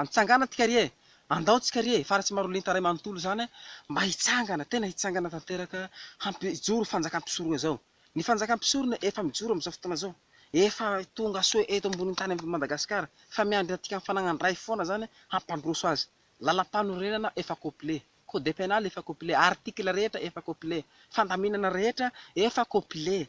Antsangana tsika ry e! Andao tsika ry e! Fa raha tsy marolinta iray manontolo izany mba hitsangana, tena hitsangana tanteraka hampijoro fanjakan'i mpisorona izao. Ny fanjakan'i mpisorona efa mijoro amin'izao fotoana izao. Efa tonga soa eto ambonin'ny tany amin'i Madagasikara. Fa miandry antsika amin'ny fananan-dray foana izany hampandroso azy. Lalampanorenana efa complet. Code pénal efa complet. Article rehetra efa complet. Fandaminana rehetra efa complet.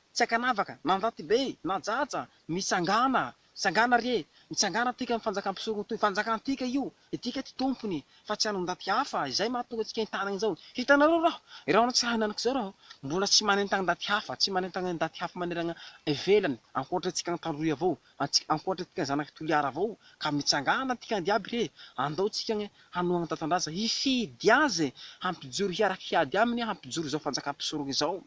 Tsy ankanavaka, mandraty be, najaja, mitsangàna, tsangàna re, mitsangàna antsika amin'ny Fanjakam-pisorontoy, Fanjakantsika io, isika tsy tompony, fa tsy an'ondaty hafa, izay mahatonga antsika entana izao. Hitanareo raho, raha ny tsy hahinanako izao raho, mbola tsy manentana ndaty hafa, tsy manentana ndaty hafa manerana ivelany, ankoatra antsika tandroy avao, Antsika ankoatra tika zanak'i Toliara avao ka mitsangana antika andia aby re andao tsika anie hanohagna ny Tantandraza hifidy azy e hampijoro hiaraka hiady aminy hampijoro izao fanjakana mpisorogna izao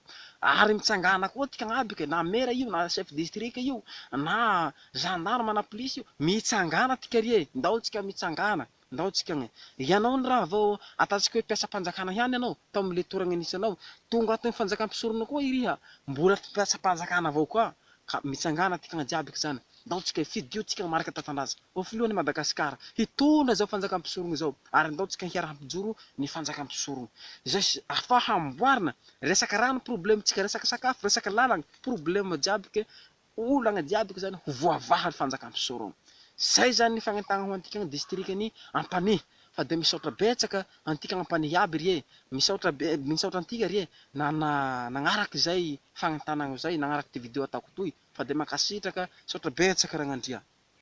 ary mitsangana koa tika agnaby ka na mera io na chef district io na gendarme na polisy io mitsangana tika re ndao tsika mitsangana Ndao tsika agny. Ianao ny raha vao ataontsika hoe mpiasam-panjakana ihany ianao, tao amin'ny letoragna nisy anao. Tonga ato amin'ny fanjakam-pisorona koa iriha, mbola mpiasam-panjakana avao koa. Ka mitsangàna tikagna jiaby k'izany. Ndao tsika hifidio tsika marika tantandraza, ho filohan'i Madagasikara, hitondra izao fanjakam-pisorogna izao. Ary ndao tsika hiara-hampijoro ny fanjakam-pisorogna. Izay afaha amboarina. Resaka rano problème-tsika, resaka sakafo, resaka làlagna, problème jiaby ke. Ho olana diadiko izany ho voavaha ny fanjakan'i Soroma. Izay izany ny fagnentagna ho antika ny distrikan'i Ampanihy. Fa dia misaotra betsaka antika Ampanihy iaby ry e! Misaotra be, misaotra antika ry e! na na nagnaraka izay fagnentanagna izay, nagnaraka ity video ataoko toy. Fa dia mankasitraka, misaotra betsaka Ragnandria.